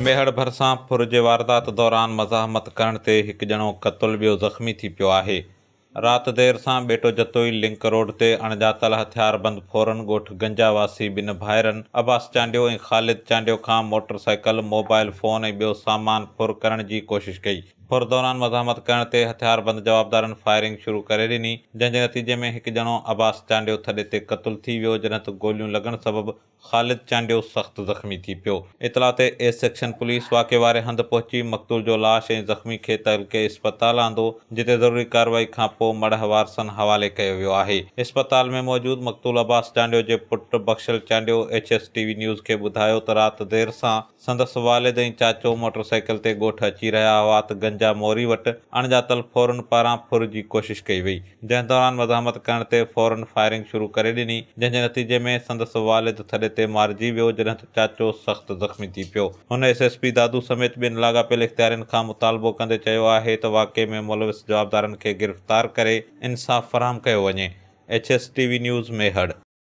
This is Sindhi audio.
ميهڙ ڀرسان ڦر جي واردات دوران مزاحمت ڪرڻ تي هڪ ڄڻو قتل ٻيو زخمي ٿي پيو آهي. رات دير سان ٻيٽو جتوئي لنڪ روڊ تي اڻڄاتل هٿياربند ڦورن ڳوٺ گنجا واسي ٻن ڀائرن عباس چانڊيو ۽ خالد چانڊيو کان موٽر سائيڪل، موبائل فون ۽ ٻيو سامان ڦر ڪرڻ جي ڪوشش ڪئي. ڦر دوران مزاحمت ڪرڻ تي هٿياربند جوابدارن فائرنگ شروع ڪري ڏني، جنهن جي نتيجي ۾ هڪ ڄڻو عباس چانڊيو ٿڏي تي قتل ٿي ويو، جڏهن ته گوليون لڳڻ سبب خالد چانڊيو سخت زخمي ٿي پيو. اطلاع تي ايس سيڪشن پوليس واقعي واري هنڌ پهچي مقتول جو لاش ۽ زخمي کي تعلقي اسپتال آندو، جتي ضروري ڪارروائي کان پوء مڙهه وارثن حوالي ڪيو ويو آهي. اسپتال ۾ موجود مقتول عباس چانڊيو جي پٽ Bakhshal Chandio H S T V news کي ٻڌايو ته رات دير سان، سندس والد ۽ چاچو موٽر سائيڪل تي ڳوٺ اچي رهيا هئا ته گنجا موري وٽ اڻڄاتل ڦورن پاران ڦر جي ڪوشش ڪئي وئي، جنهن دوران مزاحمت ڪرڻ تي ڦورن فائرنگ شروع ڪري ڏني، جنهن جي نتيجي ۾ سندس والد ٿڏي تي مارجي ويو، جڏهن ته چاچو سخت زخمي ٿي پيو. هن ايس ايس پي دادو سميت ٻين لاڳاپيل اختيارين کان مطالبو ڪندي چيو آهي ته واقعي ۾ ملوث جوابدارن کي گرفتار ڪري انصاف فراهم ڪيو وڃي. H S T V news Mehar.